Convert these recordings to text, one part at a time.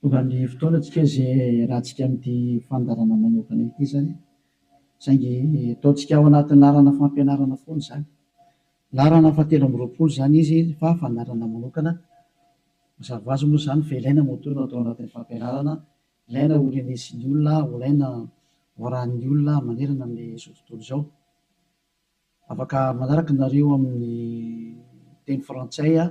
Tonga ny fotoana antsika izay hiarahantsika amin'ity fandaharana manokana ity izany, saingy ataontsika ao anatin'ny laharana fampianarana foana izany. Laharana fahatelo amby roapolo izany izy fa fandaharana manokana. Mazava ho azy moa izany fa ilaina ny motona atao anatin'ny fampianarana, ilaina ho renesin'ny olona, ho ilaina ho arahin'ny olona manerana amin'izao tontolo izao. Afaka manaraka nareo amin'ny teny frantsay aho.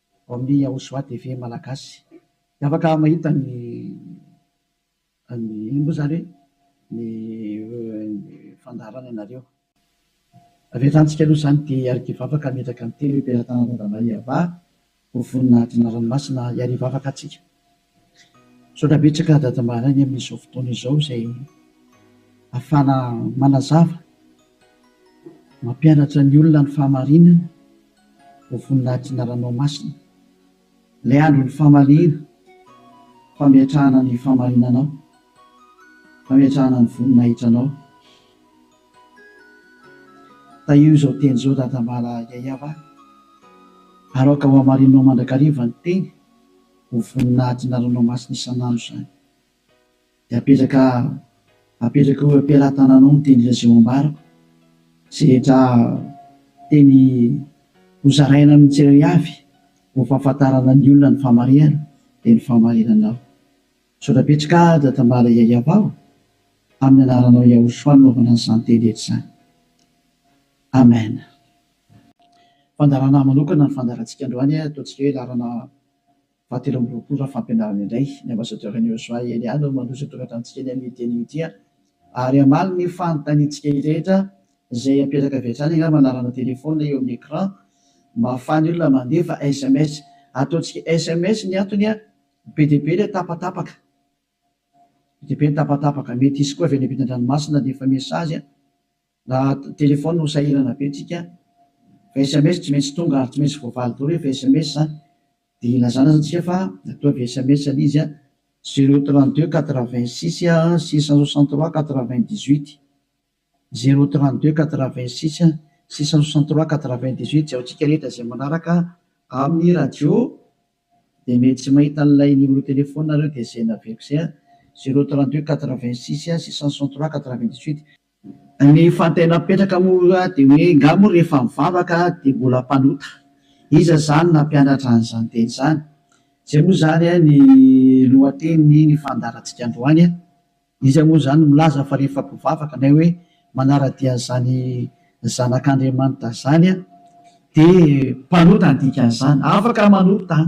ao amin'ny Yahushua TV Malagasy dia afaka mahita ny ny inona moa izany hoe ny fandaharana ianareo. Avelantsika aloha izany dia iarivo afaka hametraka ny teny hoe Mpiara-tanan-dRamaiavah ho voninahitry ny Ranomasina iarivo afaka antsika Misaotra betsaka Dada Mahalany amin'izao fotoana izao izay ahafahana manazava, mampianatra ny olona ny fahamarinana ho voninahitr'i Ranoamasina. Ilay andron'ny famaliana, fametrahana ny fahamarinanao, fametrahana ny voninahitranao. Tahio izao teny izao Dada Mahalay Yayava a! Aroaka ho hamarininao mandrakariva ny teny. Ho vonona adina ranomasina isan'andro izany. Dia apetraka apetraka eo am-pelatananao ny teny Lazao ambarako izay rehetra teny hozaraina amin'ny tsirairay avy ho fahafantarana ny olona ny fahamarinana dia ny fahamarinanao. Misaotra betsaka Dada Tambara Yayavao amin'ny anaranao Yahoshua nanaovana an'izany teny rehetra izany. Amen. Fandaharana manokana ny fandaharantsika androany, ataontsika hoe laharana fahatelo amby roapolo raha fampianarana indray. Ny Ambasadaoran'i Yosua Yelya no mandroso an-toratra amintsika ny amin'io teny ity ary hamaly ny fanontaniantsika rehetra izay apetaka avy hatrany angamba ny laharana telefaonina eo amin'ny écran mba hahafahan'ny olona mandefa sms. Ataontsika sms ny antony, be dia be ilay tapatapaka, be dia be ny tapatapaka. Mety hisy koa avy any ampitan-dranomasina handefa mesazy. Na téléphone no sahirana be tsika fa sms tsy maintsy tonga ary tsy maintsy voavaly daholo rehefa sms dia ilazana aza tsika fa ataovy sms le izy zero trente deux quatre vingt six six cent soixante trois quatre vingt dix huit zero trente deux quatre vingt six six cent soixante trois quatre vingt dix huit jaontsika rehetra izay manaraka amin'ny radio dia mety tsy mahita an'ilay numéro téléphone nareo dia izay naveriko izay zero trente deux quatre vingt six six cent soixante trois quatre vingt dix huit Ny fantena mipetraka moa dia hoe nga moa rehefa mivavaka dia mbola mpanota? Iza izany nampianatra an'izany teny izany? Izay moa izany ny lohatenin'iny fandaharantsika androany. Iza moa izany no milaza fa rehefa mpivavaka na hoe manara-dia an'izany zanak'Andriamanitra izany dia mpanota ny dikan'izany? Afaka manota an!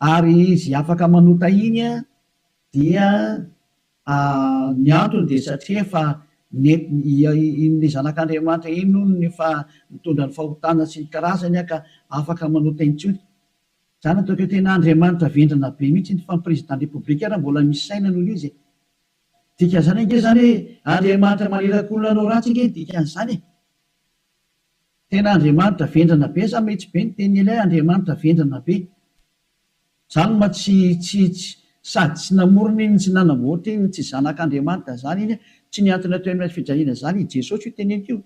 Ary izy afaka manota iny an, dia ny antony dia satria efa iny zanak'Andriamanitra iny hono no efa nitondra ny fahotana sy ny karazany an ka afaka manota intsony. Zany ataoko hoe tena Andriamanitra vendrana be mihitsy iny fa ny président de république ary mbola misy saina noho izy e! Dikan'izany ange zany hoe Andriamanitra manirakolona anao ratsy ange ny dikan'izany e! Tena Andriamanitra vendrana be sa mety be ny tenin'i Eliah Andriamanitra vendrana be. Zany ma tsy tsy tsy sady tsy namorona iny tsy nanamboatra iny tsy zanak'Andriamanitra zany iny tsy ny antony atao eny fijaliana zany i Jesosy io teneniko io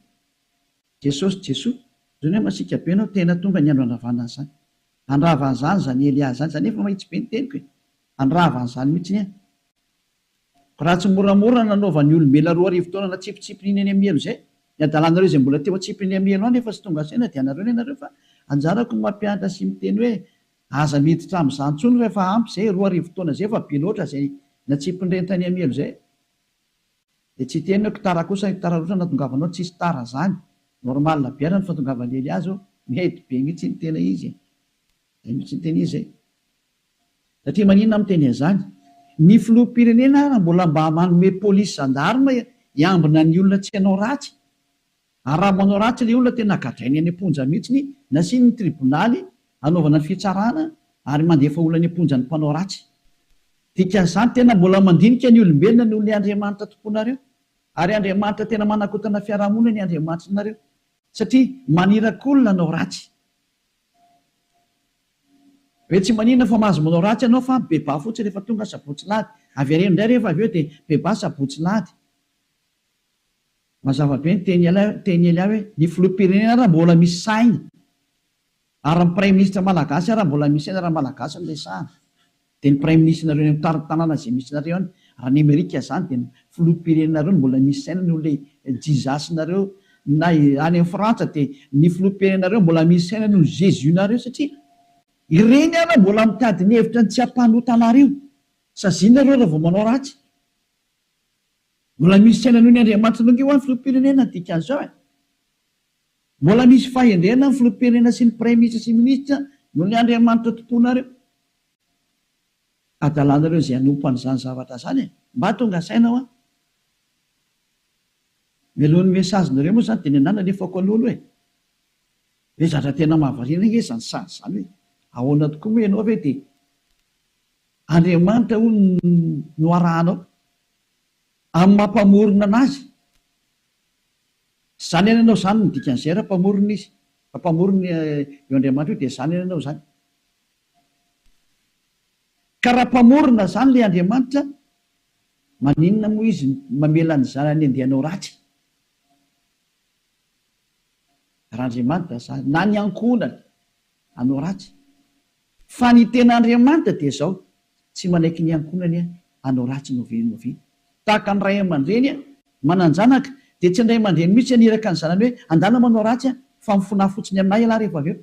Jesosy Jesoa zany hoe masiaka be anao tena tonga ny andro handravana an'zany handrava an'zany zany Eliah zany za nefa mahitsy be ny teniko e handrava an'zany mitsiny an. Raha tsy moramora nanaovan'ny olombelona roa arivo taona natsipitsipin'iny any amielo izay, ny hadalanareo izay mbola teo atsipin'ny amielo any efa tsy tonga saina dia anareo ny anareo fa anjarako ny mampianatra sy miteny hoe aza miditra amin'izany intsony rehefa ampy izay roa arivo taona izay fa be loatra izay natsipin'ireny tany amielo izay dia tsy hiteny hoe ktara kosa ny ktara loatra natongavanao tsisy tara izany normal be ara ny fatongavan'i eliazo mety be mihitsy ny tena izy e! zay mihitsy ny tena izy e! Satria maninona aho miteny an'izany? Ny filoham-pirenena ary mbola mba manome polisy zandarma hiambina ny olona tsy hanao ratsy? Ary raha manao ratsy ilay olona tena gadrainy any am-ponja mihitsy, nasiany ny tribonaly hanaovana ny fitsarana ary mandefa olona any am-ponja ny mpanao ratsy. Dikan'izany tena mbola mandinika ny olombelona noho ilay Andriamanitra tomponareo. Ary Andriamanitra tena manakotana fiarahamonina ny Andriamanitrinareo. Satria maniraky olona hanao ratsy. Be tsy maninona fa mahazo manao ratsy ianao fa bebà fotsiny rehefa tonga sabotsy lahady. Avereno indray rehefa avy eo dia bebà sabotsy lahady. Mazava be ny teny ela teny ela hoe ny filoham-pirenena ary mbola misy saina ary ny praiminisitra malagasy ary mbola misy saina raha malagasy no resahana. Dia ny praiminisitrinareo eny amin'ny tanàna izay misy nareo any raha any amerika izany dia ny filoham-pirenenareo no mbola misy saina noho ilay jizasinareo na any amin'ny frantsa dia ny filoham-pirenenareo mbola misy saina noho ny jesus nareo satria ireny ary mbola mitady ny hevitra ny tsy hampanota anareo saziana ireo raha vao manao ratsy mbola misy saina noho ny andriamanitra nareo ho'a ny filoham-pirenena ny dikan'izao e mbola misy fahendrena ny filoham-pirenena sy ny praiminisitra sy ny minisitra noho ny andriamanitra tomponareo adalanareo izay hanompo an'izany zavatra izany e! Mba tonga saina hoa. Mialohan'ny message nareo moa izany dia ny anah nalefako aloha aloha e! Ve zatra tena mahavariana ange izany sazy izany hoe ahoana tokoa moa ianao ve dia Andriamanitra hono no arahanao amin'ny maha mpamorona an'azy? Zany ihany ianao zany no dikan'izay raha mpamorona izy, raha mpamorona io Andriamanitra io dia zany ihany ianao zany. Ka raha mpamorona zany le Andriamanitra maninona moa izy mamela ny zanany andeha hanao ratsy? Raha Andriamanitra zany na ny ankohonany hanao ratsy fa ny tena Andriamanitra dia zao tsy manaiky ny ankohonany hanao ratsy no ve no ve tahaka ny ray aman-dreny manan-janaka dia tsy ny ray aman-dreny mihitsy haniraka ny zanany hoe andana manao ratsy fa mifona fotsiny aminay ialahy rehefa avy eo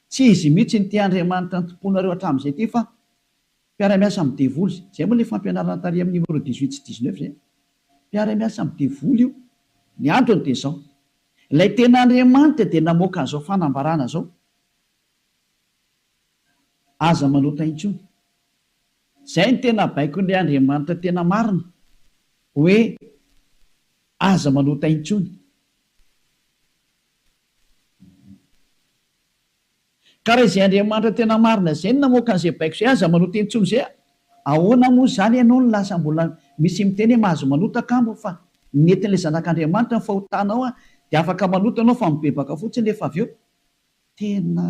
Tsy izy mihitsy no te Andriamanitra ny tompoinareo hatramin'izay ity fa mpiara-miasa amin'ny devoly izay. Izay moa ilay fampianarana tary amin'ny numéro dix huit sy dix neuf izay. Mpiara-miasa amin'ny devoly io. Ny antony dia izao. Ilay tena Andriamanitra dia namoaka an'izao fanambarana izao. Aza manota intsony. Izay no tena baikon'ilay Andriamanitra tena marina. Hoe aza manota intsony. Ka raha izay Andriamanitra tena marina izay no namoaka an'izay baiko izay, aza manota intsony izay a! Ahoana moa izany ianao no lasa mbola misy miteny hoe mahazo manota kamo fa ny netin'ilay Zanak'Andriamanitra ny fahotanao a! Dia afaka manota ianao fa mibebaka fotsiny nefa avy eo tena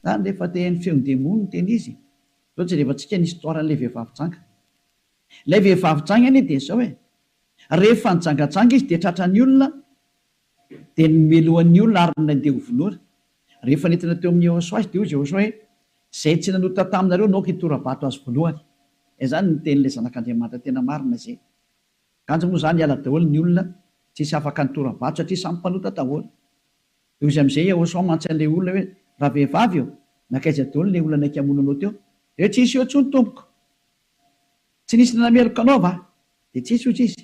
zany rehefa te haino feon'ny demony no tena izy. Izao jerevantsika ny histoire an'ilay vehivavy janga. Ilay vehivavy janga anie dia izao e! Rehefa nijangajanga izy dia tratran'ny olona Dia nomelohany ny olona ary nandeha ho vonoina. Rehefa nentina teo amin'i Yehosua izy dia hoy Jehoshua hoe, Izay tsy nanota taminareo naoka hitora-bato azy voalohany. Izany no tenin'ilay Zanak'Andriamanitra tena marina izay. Kanjo moa izany hiala daholo ny olona tsy hisy afaka nitora-bato satria samy mpanota daholo. Dia hoy izy amin'izay Yehosua mantsy an'ilay olona hoe, Ravehivavy ô, nankaiza daholo ilay olona naika hamono anao teo? Dia tsy nisy eo intsony tompoko. Tsy nisy nanameloka anao va? Dia tsy nisy hoy izy.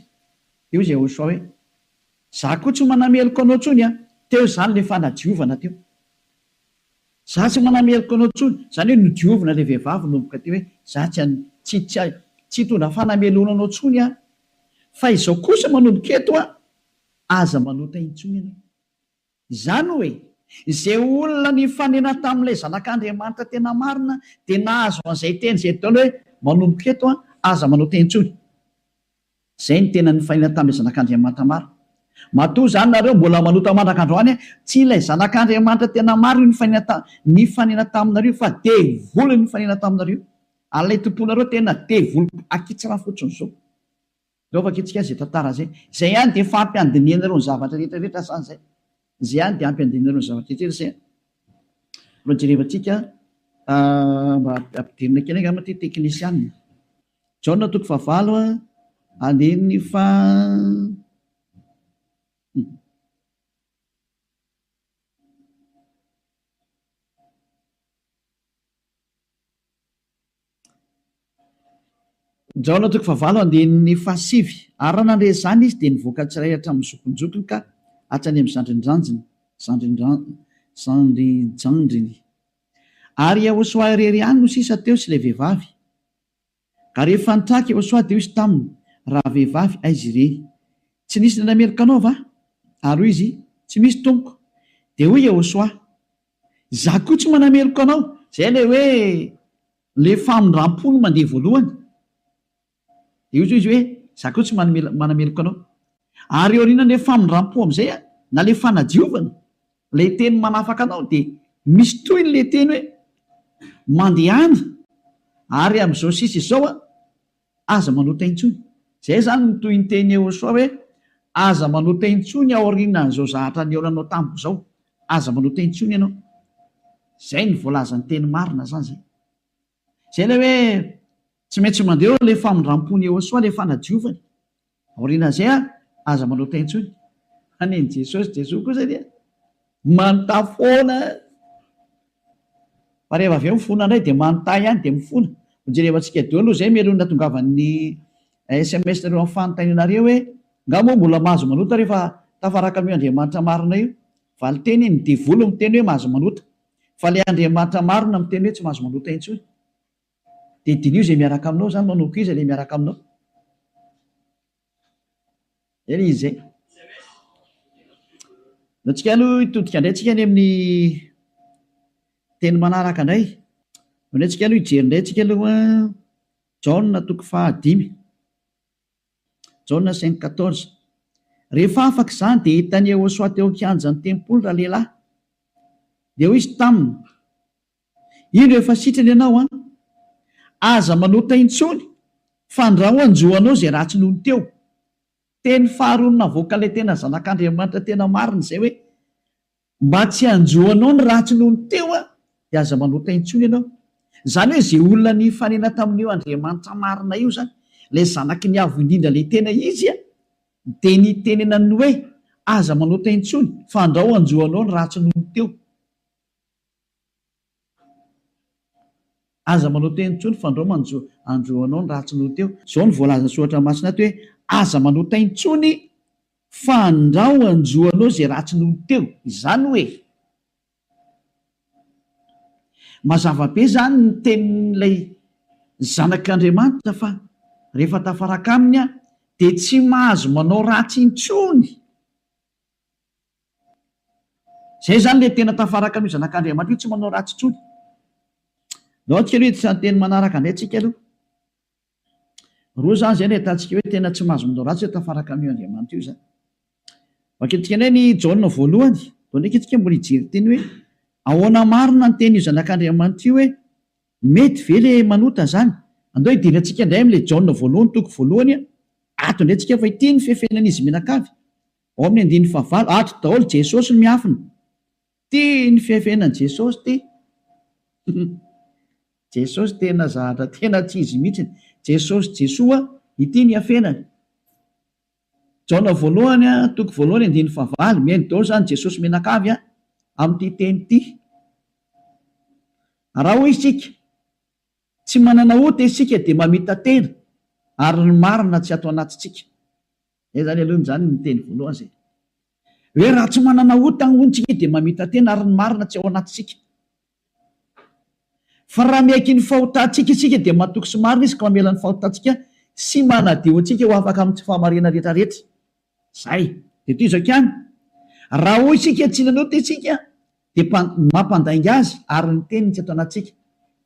Dia hoy Jehoshua hoe, Za koa tsy manameloka anao tsony an! Teo zany le fanadiovana teo. Za tsy manameloka anao tsony, zany hoe nodiovina le vehivavy nomboka teo hoe za tsy an, tsy, tsy, tsy hitondra fanameloana anao tsony aho. Fa izao kosa manomboka eto an! Aza manota intsony ianao. Izany hoe, izay olona nifanena tamin'ilay Zanak'Andriamanitra tena marina dia nahazo an'izay teny izay Dol hoe, Manomboka eto, aza manao teny intsony. Izay no tena nifanena tamin'ilay Zanak'Andriamanitra marina. Matoa izany nareo mbola manota mandraka androany, tsy ilay Zanak'Andriamanitra tena marina io nifanena nifanena taminareo fa devoly nifanena taminareo. Ary ilay tomponareo tena devoly akitsra fotsiny izao. Aleo vakintsika izay tantara izay. Izay ihany dia efa ampy handinihana ireo ny zavatra rehetra rehetra sa izay? Izay ihany dia ampy handinihana ireo ny zavatra rehetra rehetra izay? Aleo jerevantsika mba ampidirina kely angamba ity teknisianina. Jaona toko fahavalo andininy faha Njaona toko fahavalo andinin'ny fahasivy Ary raha nandre izany izy, dia nivoaka tsirairay hatramin'ny zokinjokiny ka hatrany amin'ny zandrinjandriny, zandrinjandriny. Ary i Iehosoa irery ihany no sisa teo sy ilay vehivavy. Ka rehefa nitraka Iehosoa, dia hoy izy taminy, Rahavehivavy, aiza ireny? Tsy nisy indray meloka anao va? Ary hoy izy, Tsy misy, tompoko. Dia hoy Iehosoa, Izaho koa tsy manameloka anao. Izay ilay hoe ilay famindram-po no mandeha voalohany. Dia hoy izy hoe, Izaho koa tsy manameloka anao. Ary eo aorianan'ilay famindram-po amin'izay, na ilay fanadiovana, ilay teny manafaka anao, dia misy tohiny ilay teny hoe, Mandehana, ary amin'izao sisa izao, Aza manota intsony. Izay izany no tohin-tenin'i Yehosua hoe, Aza manota intsony aorianan'izao zahatra nihaona anao tamiko izao. Aza manota intsony ianao. Izay no voalazan'ny teny marina izany izay. Izay ilay hoe tsy maintsy mandeha eo ilay famindram-pon'i Yehosua, ilay fanadiovany. Aoriana izay ary, aza manota intsony. Anen'i Jesosy, Jesoa kosa dia manota foana. Fa rehefa avy eo mifona indray dia manota ihany dia mifona. Ho jereva antsika daholo izay melohin'ny natongavan'ny sms nareo amin'ny fanontaniana re hoe, nga moa mbola mahazo manota rehefa tafaraka amin'io Andriamanitra marina io? Valin-teny, ny devoly miteny hoe mahazo manota. Fa ilay Andriamanitra marina miteny hoe tsy mahazo manota intsony. Dia diniho izay miaraka aminao izany manao akory iza ilay miaraka aminao. Izay ilay izy izay. Dia antsika aloha hitodika indray antsika any amin'ny teny manaraka indray. Ao indray antsika aloha hijery indray antsika aloha Jaona toko fahadimy. Jaona cinq quatorze. Rehefa afaka izany dia hitan'i Yehosoa teo an-kianjan'ny tempoly ralehilahy. Dia hoy izy taminy, Indro efa sitrana ianao an! Aza manota intsony fandrao hanjo anao izay ratsy nony teo. Teny faharoany navoaka ilay tena zanak'Andriamanitra tena marina izay hoe, mba tsy hanjo anao ny ratsy nony teo aho dia aza manota intsony ianao. Izany hoe izay olona nifanena tamin'io Andriamanitra marina io izany, ilay zanaky ny Avo indrindra ilay tena izy an, dia nitenenany ny hoe, aza manota intsony fandrao hanjo anao ny ratsy nony teo. Aza manao teny intsony fa ndrao manjo andro anao ny ratsy no teo. Zao no voalazan'ny soratra masina ato hoe aza manao teny intsony fa ndrao hanjo anao izay ratsy no teo. Izany hoe mazava be izany ny tenin'ilay zanak'Andriamanitra fa rehefa tafaraka aminy aho dia tsy mahazo manao ratsy intsony. Izay izany ilay tena tafaraka amin'io Zanak'Andriamanitra io, tsy manao ratsy intsony. Andao antsika aloha hiditra ny teny manaraka indray tsika aloha. Roa izany izay no ahitantsika hoe tena tsy mahazo manao ratsy hoe tafaraka amin'io Andriamanitra io izany. Vakintsika indray ny Jaona voalohany, vao ndraika isika mbola hijery teny hoe ahoana marina ny tenin'io Zanak'Andriamanitra io hoe mety ve ilay manota izany. Andao hidirantsika indray amin'ilay Jaona voalohany, toko voalohany, ato indray isika fa ity no fefenan'izy mianakavy. Ao amin'ny andininy fahavalo, ato daholo Jesosy no miafina. Tia ny fihafenany Jesosy ty. Jesosy tena zahatra tena tsy izy mihitsy. Jesosy Jesoa ity ny hafenany. Jaona voalohany a, toko voalohany andininy fahavalo, mihaino daholo zany Jesosy mianakavy a, amin'ity teny ity. Raha hoy isika, tsy manana ota isika dia mamita-tena ary ny marina tsy ato anatintsika. Zay zany aloha zany ny teny voalohany zay hoe raha tsy manana ota hono tsika dia mamita tena ary ny marina tsy ao anatintsika. Fa raha miaiky ny fahotantsika isika dia matoky sy marina izy ka mamela ny fahotantsika sy manadio antsika ho afaka amin'ny tsy fahamariana rehetra rehetra. Zay. Dia toy izao ihany, raha hoy isika tsy nanota isika dia mpa, mampandainga azy ary ny teniny tsy ato anatintsika.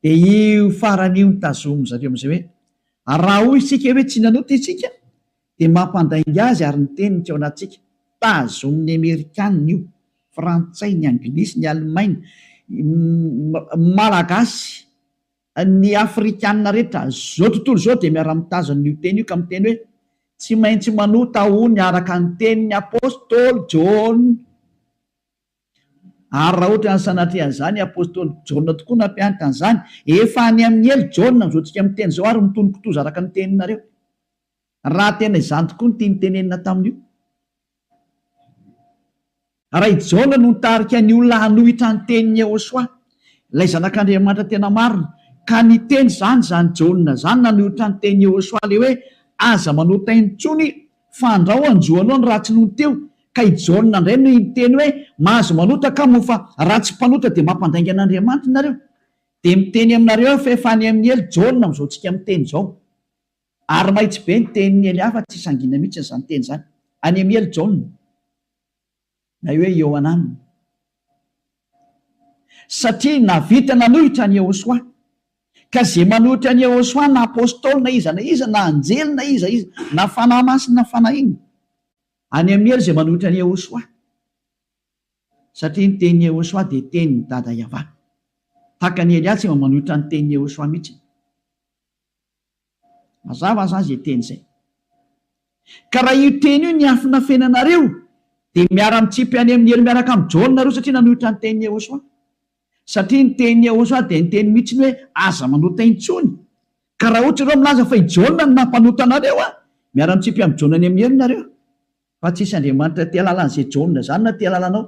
Dia io farany io no tazomin-dry zareo amin'izay hoe raha hoy isika hoe tsy nanota isika Dia mampandainga azy ary ny teniny teo anatintsika. Tazonin'ny Amerikana io, Frantsay, ny Anglisy, ny Alemaina, ny Malagasy, ny Afrikana rehetra izao tontolo izao dia miara-mitazona an'io teny io ka miteny hoe, Tsy maintsy manota ho ny araka ny tenin'ny Apostoly Jaona. Ary raha ohatran'ny sanatria an'izany i Apostoly Jaona tokoa nampianatra an'izany, efa any amin'ny helo Jaona amin'izao tsika miteny izao ary mitonon-kitoza araka ny teninareo. raha tena izany tokoa no tiany tenenina tamin'io. Raha i Jaona no nitarika ny olona hanohitra ny tenin'i Yehosua, ilay Zanak'Andriamanitra tena marina, ka niteny izany izany Jaona izany nanohitra ny tenin'i Yehosua ilay hoe, Aza manota aina intsony, fa andrao hanjo anao ny ratsy nony teo. Ka i Jaona indray no niteny hoe, Mahazo manota ka moa fa raha tsy mpanota dia mampandainga an'Andriamanitra ianareo. Dia miteny aminareo aho fa efa any amin'ny helo Jaona amin'izao tsika miteny izao. Ary mahitsy be ny tenin'i Ely hafa tsy sangina mihitsy izany teny izany. Any amin'i Ely Jaona, na hoe Iohanan, satria nahavita nanohitra an'i Yehosua. Ka izay manohitra an'i Yehosua na apostoly na iza na iza na anjely na iza iza na fanahy masina na fanahy inona, any amin'i Ely izay manohitra an'i Yehosua, satria ny tenin'i Yehosua dia tenin'i Dada Yavah. Tahaka an'i Elia tsy mba manohitra ny tenin'i Yehosua mihitsy. Mazava aza izay teny izay. Ka raha io teny io niafina feno anareo dia miara mitsipy any amin'ny helo miaraka amin'i Jaona nareo satria nanohitra ny tenin'i Yehosua. Satria ny tenin'i Yehosua dia niteny mihitsy ny hoe aza manota intsony. Ka raha ohatra ireo milaza fa i Jaona no nampanota anareo an, miara mitsipy amin'i Jaona any amin'ny helo nareo. Fa tsy hisy Andriamanitra tia halala an'izay Jaona izany na tia halala anao.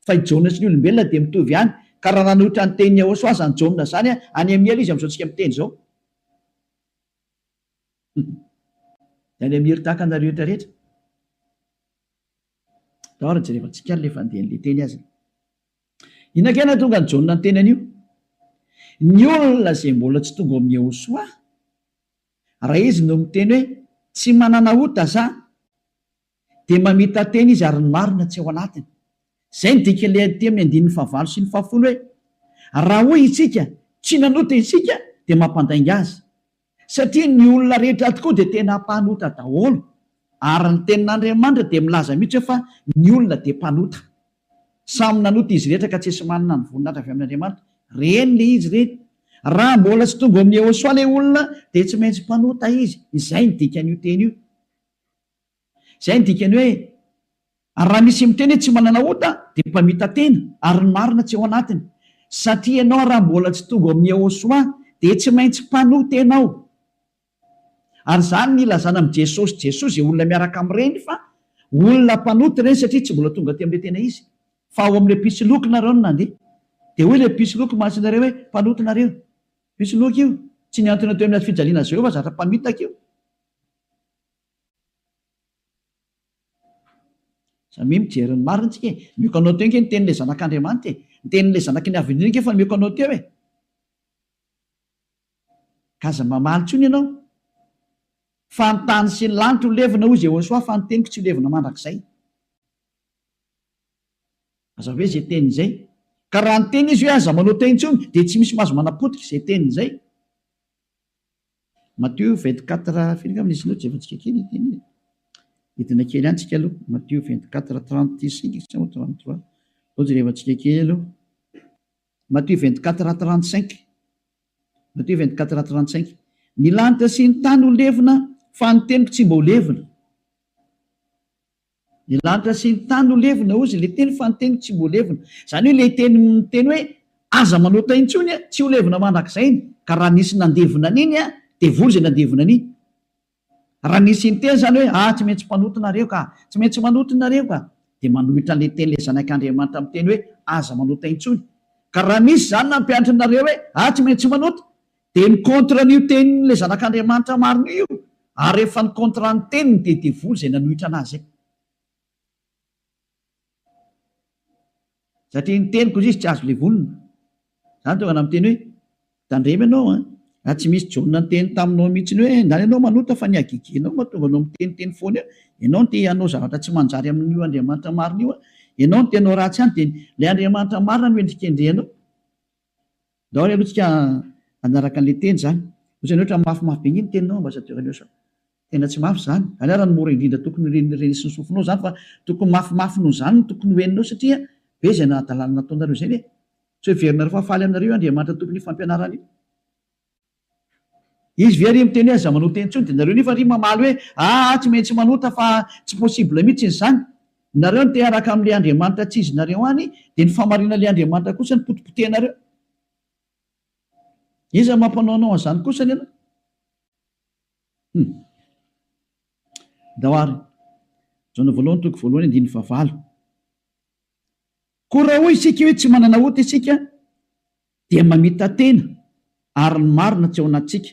Fa i Jaona sy ny olombelona dia mitovy ihany. Ka raha nanohitra ny tenin'i Yehosua izany Jaona izany an, any amin'ny helo izy amin'izao tsika miteny izao. Any Amir tahaka anareo rehetra rehetra. Tao ary jerevantsika ary le fandehan'ny le teny azy. Inona kay nahatonga an'i Jaona niteny an'io? Ny olona izay mbola tsy tonga ao amin'i Yehosoa, raha izy no miteny hoe tsy manana ota za, dia mamita-teny izy ary ny marina tsy ao anatiny. Izay no dikan'ilay teny amin'ny andininy fahavalo sy ny fahafolo hoe, Raha hoy isika, Tsy nanota isika, dia mampandainga azy, satria ny olona rehetra tokoa dia tena mpanota daholo. Ary ny Tenin'Andriamanitra dia milaza mihitsy hoe fa ny olona dia mpanota. Samy nanota izy rehetra ka tsisy manana ny voninahitra avy amin'Andriamanitra. Reny ilay izy ireny. Raha mbola tsy tonga ao amin'i Yehosoa ilay olona dia tsy maintsy mpanota izy. Izay no dikan'io teny io. Izay no dikany hoe, ary raha misy miteny hoe tsy manana ota dia mpamita-tena ary ny marina tsy ao anatiny. Satria ianao raha mbola tsy tonga ao amin'ny Yehosua dia tsy maintsy mpanota-tena ao. Ary izany no ilazana amin'i Jesosy Jesoa izay olona miaraka amin'ireny fa olona mpanota ireny satria tsy mbola tonga aty amin'ilay tena izy. Fa ao amin'ilay mpisoloky nareo no nandeha. Dia hoy ilay mpisoloky mahazo anareo hoe mpanota nareo. Mpisoloky io. Tsy mihantona teo amin'ny hazofijaliana Jehovah zatra mpamitaka io. Za mi mijery ny marina tsika e! Mioko anao teo nge ny tenin'ilay zanak'Andriamanitra e! Ny tenin'ilay zanaky ny avenir nge efa mioko anao teo e! Ka aza mamaly intsony ianao fa ny tany sy ny lanitra ho levona hoy Jehosoa fa ny teniko tsy ho levona mandrakizay. Aza hoe izay teny izay. Ka raha niteny izy hoe aza manao teo intsony dia tsy misy mahazo manapotika izay teniny izay. Matio vingt quatre firy angamba izy ireo jerentsika kely ity anie hidina kely any tsika aloha matio vingt quatre trente cinq sa moa trente trois zao jerevantsika kely aloha matio vingt quatre trente cinq matio vingt quatre trente cinq ny lanitra sy ny tany ho levona fa ny teniko tsy mba ho levona Ny lanitra sy ny tany no levona, hozy ilay teny, fa ny teny tsy mbo levona. Izany hoe ilay teny miteny hoe, Aza manota intsony a, tsy ho levona mandrakizay iny, ka raha nisy nandevona an'iny a, dia voa izay nandevona an'iny. Raha nisy niteny izany hoe, Ah, tsy maintsy mpanota nareo ka! Tsy maintsy manota nareo ka! dia manohitra an'ilay teny ilay Zanak'Andriamanitra miteny hoe, Aza manota intsony. Ka raha nisy izany nampianatra anareo hoe, Ah, tsy maintsy manota! Dia ny contre an'io tenin'ilay zanak'Andriamanitra marina io, ary rehefa ny contre ny teniny dia devoly izay nanohitra anazy izay. Satria ny teniko hoy izy tsy azo levonina. Izany tonga namiteny hoe, tandremo ianao an, raha tsy misy Jaona niteny taminao mihitsiny hoe ndany ianao manota fa ny hagegenao mahatonga anao miteniteny foana eo, ianao no te hanao zavatra tsy manjary amin'io Andriamanitra marina io an, ianao no te hanao ratsy ihany dia ilay Andriamanitra marina no hendrikendrehanao. Daholo aloha tsika hanaraka anle teny zany. Otrany otrany mafimafy be ngeny teninao ambassadeur Elios a. Tena tsy mafy zany. Aleo ara ny mora indrindra tokony ho ren'ny reny sy ny sofinao zany fa tokony mafimafy noho zany no tokony ho henonao satria be zay nahadalana nataonareo zay ne. Tsy ho heverinareo fa faly aminareo io Andriamanitra Tompon'io fampianarana io. Izy ve ry miteny hoe aza manota intsony dia nareo nefa ry mamaly hoe aa tsy maintsy manota fa tsy possible mitsiny izany. Nareo no teharaka amin'ilay Andriamanitra tsy izinareo any dia ny fahamarinan'ilay Andriamanitra kosa no potipotehinareo. Iza no mampanaonao an'izany kosa anie ianao? Hum. Andao ary. Jaona voalohany toko voalohany andininy fahavalo. Koa raha hoy isika hoe tsy manana ota isika dia mamita-tena ary ny marina tsy ao anatintsika.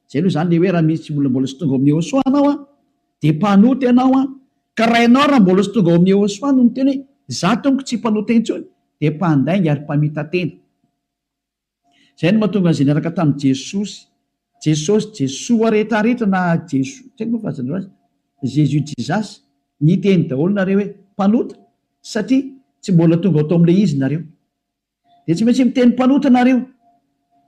Izay aloha izany ilay hoe raha misy olona mbola tsy tonga ao amin'ny Yehosua anao an, dia mpanota ianao an, ka raha ianao raha mbola tsy tonga ao amin'ny Yehosua no miteny hoe izaho tompoko tsy mpanota intsony dia mpandainga ary mpamita-tena. Izay no mahatonga an'izay niaraka tamin'i Jesosy, Jesosy, Jesoa rehetrarehetra na Jeso, tsy haiko moa fahazanareo azy, Jésus, Jesus, niteny daholo nareo hoe mpanota satria tsy mbola tonga ato amin'ilay izy nareo. Dia tsy maintsy miteny mpanota nareo.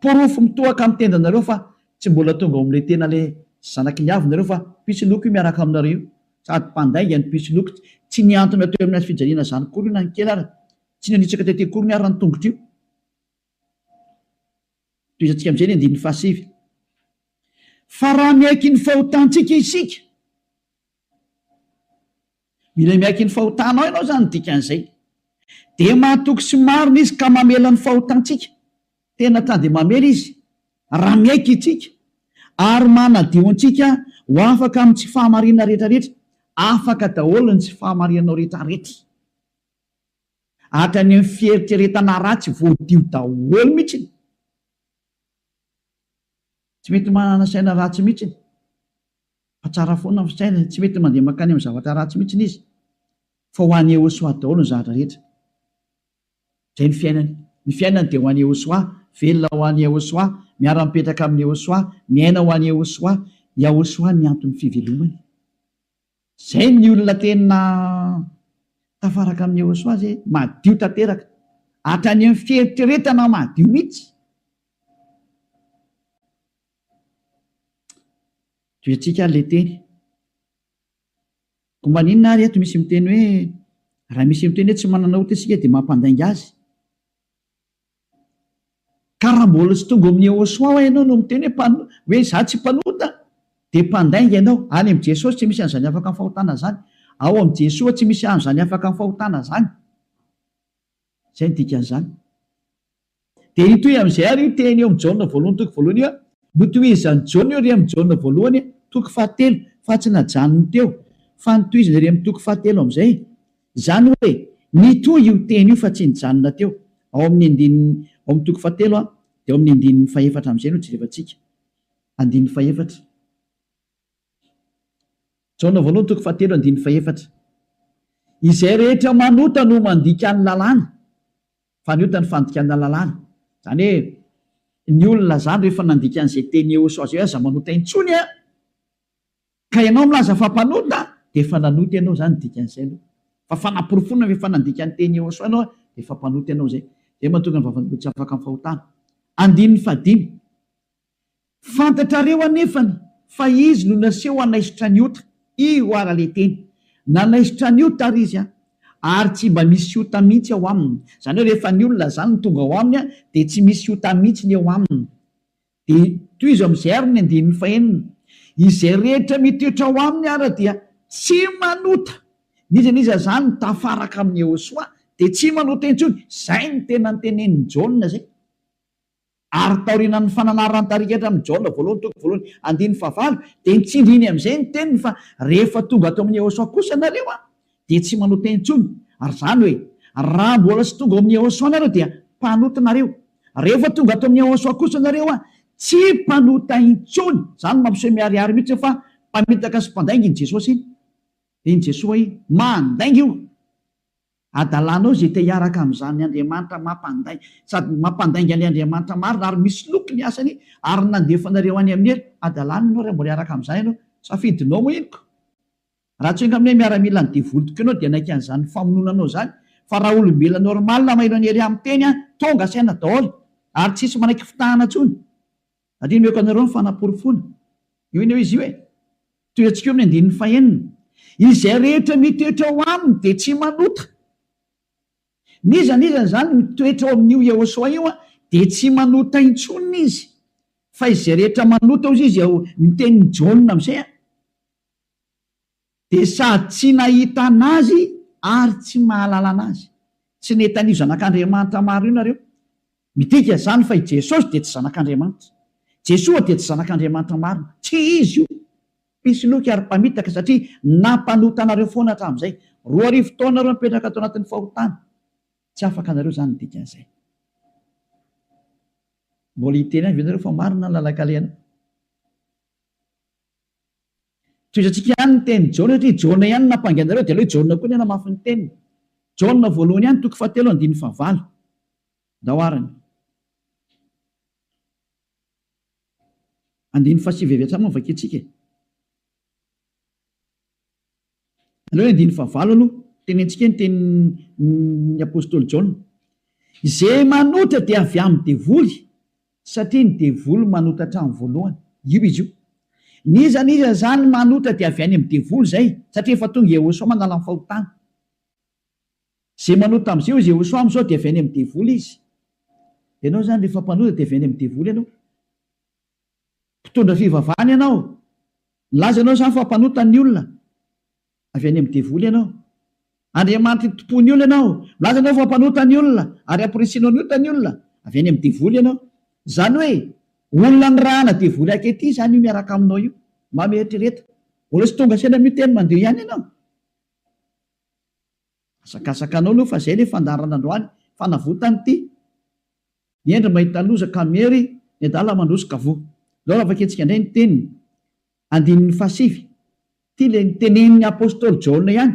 Porofo mitohaka amin'ny tendanareo fa tsy mbola tonga ao amin'ilay tena ilay zanaky ny avy nareo fa mpisoloky io miaraka aminareo io. Sady mpandainga ny mpisoloky. Tsy nihantona teo amin'ny hazofijaliana izany akory io na ny kely ary. Tsy nanitsaka tety akory ny ary ny tongotro io. Tohizantsika amin'izay ny andininy fahasivy. Fa raha miaiky ny fahotantsika isika, mila miaiky ny fahotanao ianao izany ny dikan'izay, dia mahatoky sy marina izy ka mamela ny fahotantsika, tena ka dia mamela izy raha miaiky isika, ary manadio antsika ho afaka amin'ny tsy fahamarinana rehetrarehetra, afaka daholo ny tsy fahamarinanao rehetrarehetra. Hatrany amin'ny fieritreretana ratsy voadio daholo mihitsy. Tsy mety manana saina ratsy mihitsy fa tsara foana ny fisainany. Tsy mety mandeha mankany amin'ny zavatra ratsy mihitsy izy fa ho an'i Yehoshuah daholo ny zavatra rehetra. Izay ny fiainany. Ny fiainany dia ho an'i Yehoshuah, velona ho an'i Yehoshuah, miara-mipetraka amin'i Yehoshuah, miaina ho an'i Yehoshuah. Yahoshuah ny anton'ny fivelomany. Zay ny olona tena tafaraka amin'i Yehosua zay, madio tanteraka, hatrany amin'ny fieritreretana madio mihitsy. Toetsika ary le teny. Ko maninona ary eto misy miteny hoe raha misy miteny hoe tsy manana ota isika dia mampandainga azy. Ka raha mbola tsy tonga ao amin'ny Yehosua ho'a ianao no miteny hoe mpan, hoe izaho tsy mpanota, dia mpandainga ianao. Any amin'i Jesosy tsy misy an'izany afaka amin'ny fahotana izany. Ao amin'i Jesoa tsy misy an'izany afaka amin'ny fahotana izany. Izay no dikan'izany. Dia hitohy amin'izay ary io teny eo amin'i Jaona voalohany toko voalohany io, Notohizan'i Jaona io re amin'i Jaona voalohany toko fahatelo, fa tsy najanony teo, fa notohizany re amin'ny toko fahatelo amin'izay. Izany hoe, nitohy io teny io fa tsy nijanona teo. Ao amin'ny andininy, ao amin'ny toko fahatelo a, dia ao amin'ny andininy fahefatra amin'izay no jerevantsika. Andininy fahefatra. Jaona voalohany toko fahatelo andininy fahefatra. Izay rehetra manota no mandika ny lalàna, fa ny ota no fandikana lalàna. Izany hoe, ny olona izany rehefa nandika an'izay teny Eosoazoe aza manota intsony a! Ka ianao milaza fa mpanota dia efa nanota ianao izany ny dikan'izay aloha. Fa fanaporofoana ve fa nandika ny teny Eôsô ianao dia efa mpanota ianao izay. Izay mahatonga ny vavan'olombelona tsy afaka amin'ny fahotana. Andininy fahadimy. Fantatrareo anefany fa Izy no naseho hanaisotra ny ota. Io ara le teny. Nanaisotra ny ota ary Izy a. Ary tsy mba misy ota mihitsy ao Aminy. Izany hoe rehefa ny olona izany no tonga ao Aminy dia tsy misy ota mihitsy ny eo Aminy. Dia tohizo amin'izay ary ny andininy fahenina, Izay rehetra mitoetra ao aminy ary dia tsy manota, n'iza n'iza izany no tafaraka amin'i Yehosua dia tsy manota intsony, izay no tena notenenin'i Jaona izay. Ary taorianan'ny fananaran-tarika hatramin'ny Jaona voalohany toko voalohany andininy fahavalo dia nitsindriny amin'izay ny teniny fa rehefa tonga ato amin'i Yehosua kosa nareo an, dia tsy manota intsony, ary izany hoe, raha mbola tsy tonga ao amin'i Yehosua nareo dia mpanota nareo, rehefa tonga ato amin'i Yehosua kosa nareo an, tsy mpanota intsony. Izany mampiseho miharihary mihitsy hoe fa mpamitaka sy mpandainga iny Jesosy iny. Dia iny Jesoa iny, mandainga io adalanao izay te hiaraka amin'izany Andriamanitra mampandai, sady mampandainga an'ilay Andriamanitra marina ary misoloky ny asany ary nandefa anareo any amin'ny helo, adalana ianao raha mbola hiaraka amin'izany ianao, safidinao moa iny ko. Raha tsy enga amin'ny hoe miaramilan'ny devoly tokoa ianao dia naika an'izany famonoana anao izany fa raha olombelona normal mailo an'i Hery miteny an, tonga saina daholo ary tsisy manaiky fitahana intsony. Ary omeko anareo ny fanaporofoana. Io anie hoe izy io e. Tohiantsika eo amin'ny andininy fahenina. Izay rehetra mitoetra ao aminy dia tsy manota. N'iza n'iza izany mitoetra ao amin'io Yehoshoa io an, dia tsy manota intsony izy. Fa izay rehetra manota hozy izy ao amin'ny tenin'i Jaona amin'izay an. dia sady tsy nahita an'Azy ary tsy mahalala an'Azy. Tsy nety an'io Zanak'Andriamanitra maro io nareo. Midika izany fa i Jesosy dia tsy Zanak'Andriamanitra. Jesoa dia tsy Zanak'Andriamanitra marina. Tsy Izy io. Mpisoloky ary mpamitaka satria nampanota anareo foana hatramin'izay. Roa arivo taona nareo mipetraka ato anatin'ny fahotana. Tsy afaka nareo izany ny dikan'izay. Mbola hiteny ihany ve nareo fa marina ny lalan-kalehana? Tohizantsika ihany ny tenin'i Jaona satria i Jaona ihany no nampangaina ireo dia aleo i Jaona koa ny hanamafy ny teniny. Jaona voalohany ihany toko fahatelo andininy fahavalo. Ndao ary ny. Andininy fahasivy avy hatrany moa no vakintsika e. Aleo andininy fahavalo aloha, tenentsika ny tenin'ny apostoly Jaona, Izay manota dia avy amin'ny devoly, satria ny devoly manota hatramin'ny voalohany. Io izy io. N'iza n'iza izany manota dia avy any amin'ny devoly izay, satria efa tonga Iehôsoa manala ny fahotana. Izay manota amin'izay hozy Iehôsoa amin'izao dia avy any amin'ny devoly izy. Ianao izany rehefa mpanota dia avy any amin'ny devoly ianao. mpitondra fivavahana ianao, milaza ianao izany fa mpanota ny olona, avy any amin'ny devoly ianao. Andriamanitra itompoan'ny olona ianao, milaza ianao fa mpanota ny olona ary ampirisihinao ny ota ny olona, avy any amin'ny devoly ianao. Izany hoe olona nirahana devoly ankehitriny izany io miaraka aminao io. Mba mieritrereta, mbola tsy tonga saina miteny mandeha ihany ianao. Azakazakanao aloha fa zay le fandaharana androany fanavotany ty ny hendry mahita loza ka miery ny adala mandroso ka voa zao raha vakintsika ndray ny teniny andininy fahasivy ty le niteneniny apostoly jaona ihany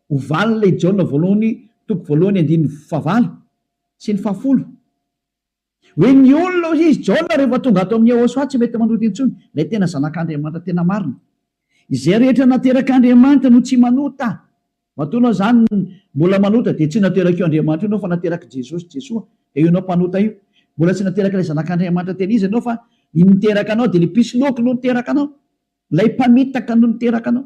ho valiny le i jaona voalohany toko voalohany andininy fahavalo sy ny fahafolo Hoe ny olona hoy izy, Jaona rehefa tonga ato amin'i Yehosua tsy mety manota intsony, ilay tena Zanak'Andriamanitra tena marina. Izay rehetra naterak'Andriamanitra no tsy manota. Matoa ianao izany mbola manota dia tsy naterak'io Andriamanitra io ianao fa naterak'i Jesosy, Jesoa, dia io ianao mpanota io. Mbola tsy naterak'ilay Zanak'Andriamanitra tena izy ianao fa ny niteraka anao dia ilay mpisoloky no niteraka anao, ilay mpamitaka no niteraka anao.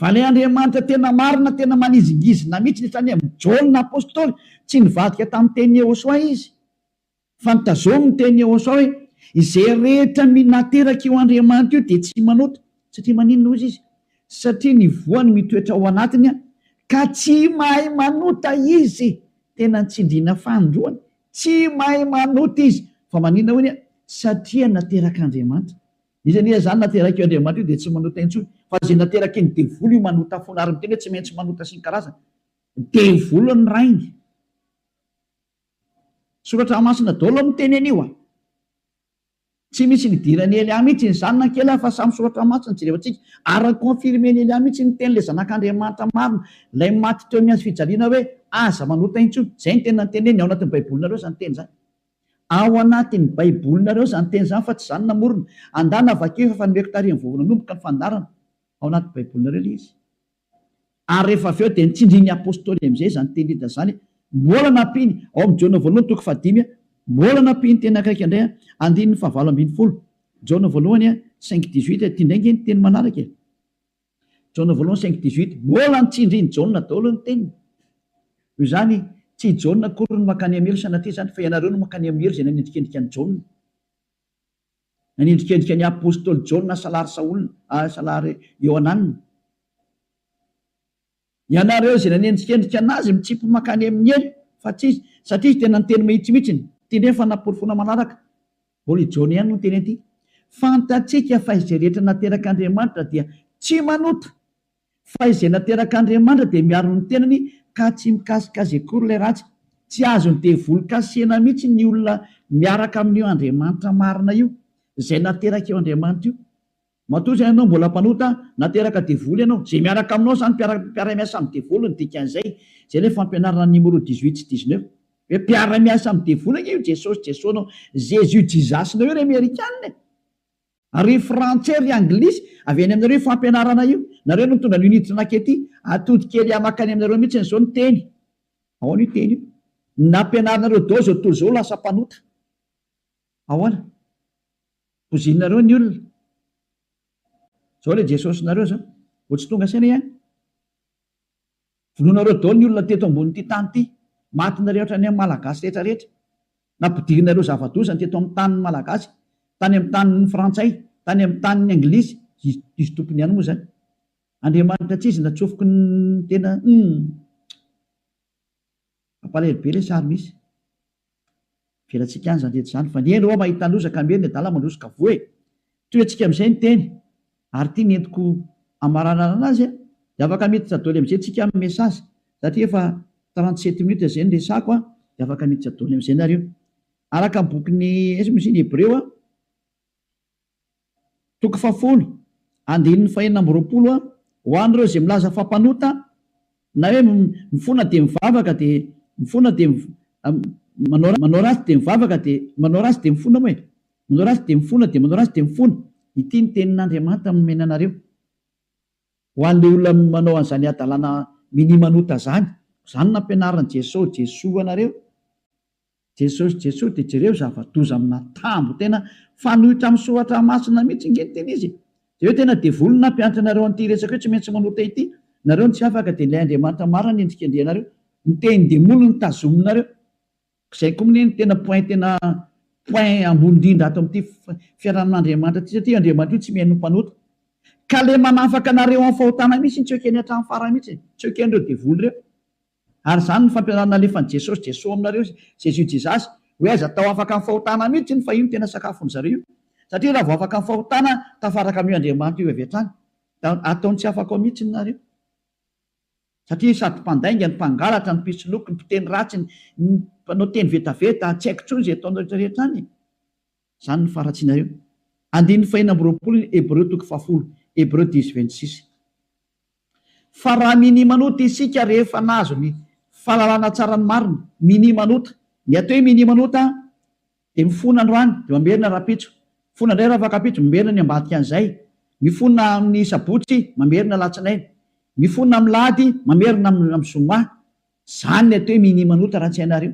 Vale Andriamanitra tena marina tena manizingizina mihitsy ny tany aminy Jaona apostoly tsy nivadika tamin'ny teny Yehosoa izy fa ny tazomy ny teny Yehosoa hoe izay rehetra minateraka io Andriamanitra io dia tsy manota satria maninona hozy izy satria ny voany mitoetra ao anatiny ka tsy mahay manota izy tena ny tsindriana fanindroany tsy mahay manota izy fa maninona hoy satria naterak'Andriamanitra Izy anie izany naterak'io Andriamanitra io dia tsy manota intsony fa izay naterakin'ny devoly io manota foana ary miteny hoe tsy maintsy manota sy ny karazany. Devoly ny rainy. Soratra masina daholo no miteny an'io a. Tsy misy nidiran'i Elia mihitsy ny zanany kely aho fa samy soratra masina no jerevantsika ary ni-confirmen'i Elia mihitsy ny tenin'ilay zanak'Andriamanitra marina ilay maty teo amin'ny hazofijaliana hoe aza manota intsony. Izay no tena niteneniny ao anatin'ny baibolinareo izany teny izany. Ao anatin'ny Baibolinareo izany teny izany fa tsy izaho no namorona. Andana vakio efa efa nomeko tarehin'ny vao nanomboka ny fandaharana. Ao anaty Baibolinareo ilay izy. Ary rehefa avy eo dia nitsindrin'ny Apôstôly amin'izay izany teny Lida izany. Mbola nampiany, ao amin'ny Jaona voalohany toko fahadimy, mbola nampiany teny akaiky indray, andininy fahavalo ambin'ny folo, Jaona voalohany cinq dix-huit, ity indray ange ny teny manaraka e. Jaona voalohany cinq dix huit, Mbola ny tsindrin'i Jaona daholo ny teniny. Noho izany, tsy i Jaona akory no mankany amin'ny helo sanatria izany, fa ianareo no mankany amin'ny helo izay nanendrikendrika an'i Jaona. Nanendrikendrika ny apostoly Jaona hasalary Saola, hasalary Iohanana. Ianareo izay nanendrikendrika an'azy mitsimpy mankany amin'ny helo fa tsy izy satria izy tena niteny mahitsy mihitsy ny. Ity indray ny fanaporofoana manaraka, Holy John ihany no niteny an'ity, Fantatsika fa izay rehetra naterak'Andriamanitra dia tsy manota, fa izay naterak'Andriamanitra dia miaro ny tenany ka tsy mikasika azy akory ilay ratsy. Tsy azon'ny devoly kasihina mihitsy ny olona miaraka amin'io Andriamanitra marina io, izay nateraka io Andriamanitra io. Matoa izay ianao mbola mpanota na teraka devoly ianao, izay miaraka aminao izany mpiara-miasa amin'ny devoly no dikan'izay, izay ilay fampianarana an'i Nimoro dix huit sy dix neuf, hoe mpiara-miasa amin'ny devoly ange io Jesosy Jesosnao, Jésus Jizasinao io ry amerikana e! Ary ry frantsay ry anglisy, avy any aminareo io fampianarana io, nareo no nitondra an'io nitrnaka ety, atody kely ahy makany aminareo mihitsiny izao ny teny, ahoana io teny io? ny nampianarinareo daholo izao tontolo izao ho lasa mpanota. Ahoana? Bozinareo ny olona. Zao le Jesosinareo zao. Vao tsy tonga saina ihany. Vonoinareo daholo ny olona teto ambonin'ity tany ity. Maty nareo hatrany amin'ny Malagasy rehetra rehetra. Nampidirinareo zava-doza ny teto amin'ny tanin'ny Malagasy. Tany amin'ny tanin'ny Frantsay, tany amin'ny tanin'ny Anglisy. Izy, izy tompony ihany moa zany. Andriamanitra tsy izy natsofoky ny tena, humm. Mampalahelo be lesy ary misy fialantsika any zany rehetra zany fa ny eny oa mahita loza ka miery ny adala mandroso ka voa e! Toy antsika amizay ny teny ary ty ny entiko amaranana azy a! De afaka miditra doly amizay tsika am message satria efa trente sept minutes zay ny resako a! De afaka miditra doly amizay nareo araka ny bokin'ny ins moa izy iny hebreo a! Toko fahafolo, andininy fahenina amby roapolo a Ho an'ireo izay milaza fa mpanota, na hoe mifona dia mivavaka dia mifona dia manao manao ratsy dia mivavaka dia manao ratsy dia mifona moa e! manao ratsy dia mifona dia manao ratsy dia mifona, ity ny tenin'Andriamanitra nomena anareo ho an'ilay olona manao an'izany hadalana minia manota izany, izany nampianarin'i Jesosy Jesoa anareo, Jesosy Jesosy de jereo zavadoza amina tambo tena fanoitra am soratra masina mitsy nge ny tena izy de eo tena devoly no nampianatra anareo anty resaka io tsy maintsy manota ity nareo no tsy afaka de ilay Andriamanitra marina no endrikendrehanareo ny teny demoly no tazominareo zay ko mne no tena point tena point ambony indrindra ato amty fiarahamin Andriamanitra ty satria io Andriamanitra io tsy mihaino ny mpanota ka le manafaka anareo am fahotana mitsy tsy ekeny atram fara mitsy tsy ekenreo devoly reo. Ary izany no fampianarana nalefan'i Jesosy Jeso aminareo izy Jésus Jesus hoe aiza tao afaka amin'ny fahotana mihitsy iny fa io no tena sakafon'ny zareo io satria raha vao afaka amin'ny fahotana tafaraka amin'io Andriamanitra io avy hatrany da ataony tsy afaka ao mihitsy ny nareo satria sady mpandainga ny mpangalatra ny mpisoloky ny mpiteny ratsy ny mpanao teny vetaveta tsy haiko intsony izay ataonareo rehetra any e. Izany no faharatsianareo. Andininy fahenina amby roapolo ny Hebreo toko fahafolo, Hebreu dix vingt six. Fa raha minimanota isika rehefa nahazo ny fahalalana tsara ny marina, minimanota, ny atao hoe minimanota dia mifona androany dia mamerina rahampitso, mifona indray rafakampitso, mamerina ny ambadikan'izay, mifona amin'ny sabotsy, mamerina alatsinainy, mifona amin'ny lahady, mamerina amin'ny zoma. Izany ny atao hoe minimanota raha tsy hainareo.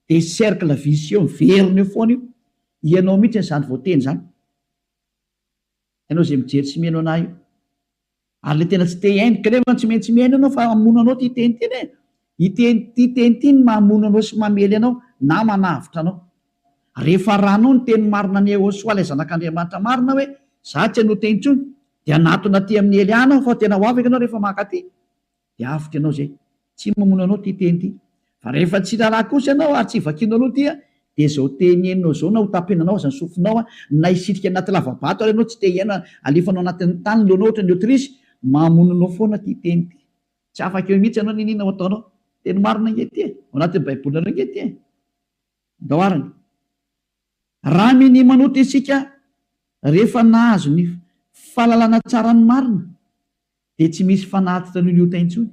Dia cercle vicieux miverina eo foana io, ianao mihitsy izany voateny izany, ianao izay mijery sy mihaino anah io, ary ilay tena tsy te hihaino, ka nefa tsy maintsy mihaino ianao fa hamono anao ity teny ity e, ity teny ity no mamono anao sy mamely anao na manavotra anao, rehefa ranao ny teny marina an'i Yehosua ilay zanak'Andriamanitra marina hoe izaho tsy hanoa teny intsony, dia hanatona aty amin'ny hely any aho fa tena ho afaka ianao rehefa mankaty. dia avotra ianao izay. Tsy mamono anao ity teny ity. Fa rehefa tsy raharaha kosa ianao ary tsy vakianao aloha ity dia izao teny henonao izao na hotapenanao aza ny sofinao na hisitrika anaty lava-bato ary ianao tsy te hiaina alefanao anatin'ny tany ny lohanao ohatran'ny autruche, mamono anao foana ity teny ity. Tsy afaka eo mihitsy ianao n'inona ho ataonao. Teny marina ange ity e! Ao anatin'ny Baibolinareo ange ity e! Andao ary ny. Raha minia manota isika rehefa nahazo ny fahalalana tsara ny marina dia tsy misy fanatitra an'io liota intsony,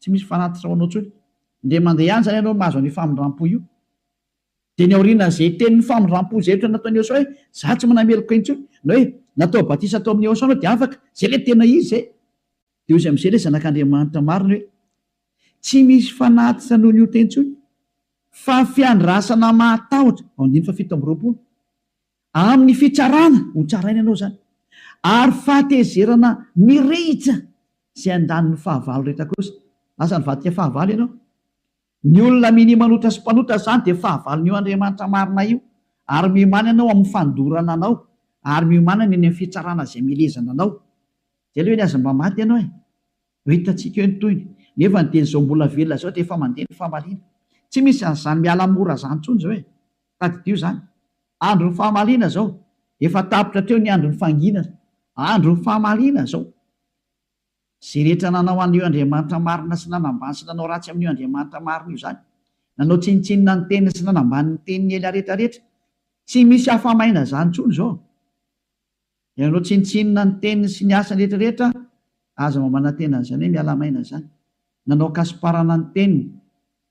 tsy misy fanatitra ho anao intsony, ndeha mandeha ihany izany ianao mahazo an'io famindram-po io, dia ny aorianan'izay tenin'ny famindram-po izay ohatra nataon'i Eosaoa hoe za tsy manana heloka intsony, na hoe natao batisa tao amin'i Eosaoa ianao dia afaka, izay ilay tena izy izay, dia hoy izy amin'izay ilay zanak'Andriamanitra marina hoe tsy misy fanatitra noho liota intsony, fa fiandrasana mahatahotra, andininy fahafito amby roapolo. Amin'ny fitsarana ho tsaraina ianao izany, ary fahatezerana mirehitra izay andaniny fahavalo rehetra kosa. Lasa nivadika fahavalo ianao. Ny olona minia manota sy mpanota izany dia fahavalon'io Andriamanitra marina io, ary miomàna ianao amin'ny fandorana anao, ary miomàna ny any amin'ny fitsarana izay milezana anao. Dia aleo anie aza mba maty ianao e! Ho hitantsika eo ny tohiny. Nefa ny teny izao mbola velona izao dia efa mandeha ny famaliana. Tsy misy an'izany miala mora izany intsony izao e! Tadidio izany. Andron'ny famaliana izao. Efa tapitra hatreo ny andron'ny fanginana. Andron'ny famaliana izao. Izay rehetra nanao an'io Andriamanitra marina sy nanambany sy nanao ratsy amin'io Andriamanitra marina io izany. Nanao tsinontsinona ny teniny sy nanambany ny teniny ela rehetra rehetra. Tsy misy afa-maina izany intsony izao. Ianao tsinontsinona ny teniny sy ny asany rehetra rehetra aza mba manantena an'izany hoe miala maina izany. Nanao kasiparana ny teniny.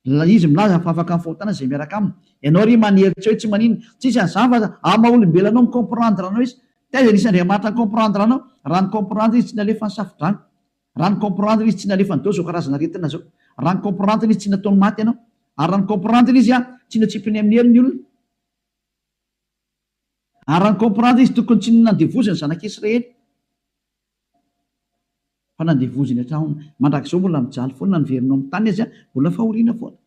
Ilay izy milaza fa afaka mifahotana izay miaraka aminy. Ianao ry manery tsy hoe tsy manina. Tsisy an'izany fa aza amin'ny maha olombelona anao mi comprendre anao izy. Taiza nisy Andriamanitra ni comprendre anao? Raha ni comprendre izy tsy nalefa ny safodrano. Raha ni comprendre izy tsy nalefa an'dao izao karazana aretina izao. Raha ni comprendre izy tsy nataony maty anao. Ary raha ni comprendre izy tsy notsipiny amin'ny helony olona. Ary raha ni-comprendre izy tokony tsy nandevozy ny zanak'i Israely fa nandevozy ny hatraony. Mandrakizao mbola mijaly foana ny verinao amin'ny tany aza mbola fahoriana foana.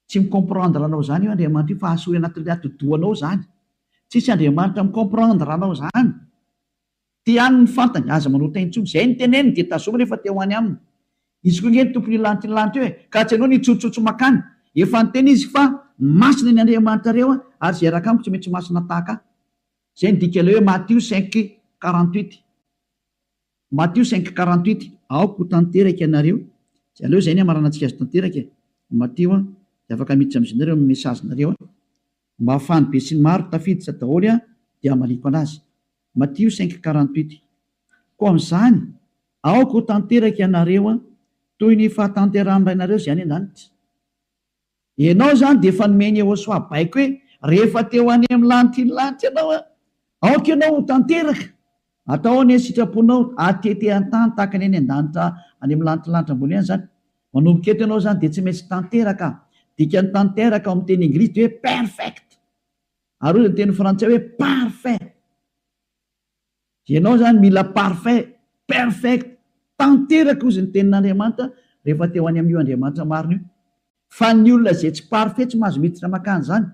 Tsy mi-comprendre anao izany io Andriamanitra io fa hahasoa eo anatin'ilay atidohanao izany. Tsisy Andriamanitra mi-comprendre anao izany. Te haniny ny fantany, aza manota intsony. Izay no teneniny dia tazominy efa te ho any aminy. Izy koa ange ny tompon'io lanitra lanitra io e! Ka tsy anao ny hitsotsotso makany. Efa niteny izy fa masina ny Andriamanitrareo ary izay raka amiko tsy mety ho masina tahaka ahy. Izay no dikan'ilay hoe Matio cinq quarante huit. Matio cinq quarante huit. Aoka ho tanteraka ianareo. Dia aleo izay ny hamaranantsika azy tanteraka e. Matio a. Dia afaka miditra amin'izy nareo amin'ny message-nareo a. Mba fany besinimaro tafiditra daholo an dia amaliako anazy. Matio cinq quarante huit. Koa amin'izany aoka ho tanteraka ianareo an toy ny fahatanterahan'ny Rainareo izay any an-danitra. Ianao izany dia efa nomen'i Yehosoa baiko hoe rehefa te ho any amin'ny lanitra iny lanitra ianao an aoka ianao ho tanteraka. Atao ao ny sitraponao hatete an-tany tahaka ny any an-danitra any amin'ny lantilanitra ambony any izany. Manomboka eto ianao izany dia tsy maintsy tanteraka. Dikan'ny tanteraka ao amin'ny teny Inglisy dia hoe perfect. Ary hoy ny teny Frantsay hoe parfait. Dia ianao izany mila parfait, perfect, tanteraka hozy ny tenin'Andriamanitra rehefa te ho any amin'io Andriamanitra marina io. Fa ny olona izay tsy parfait tsy mahazo miditra mankany izany.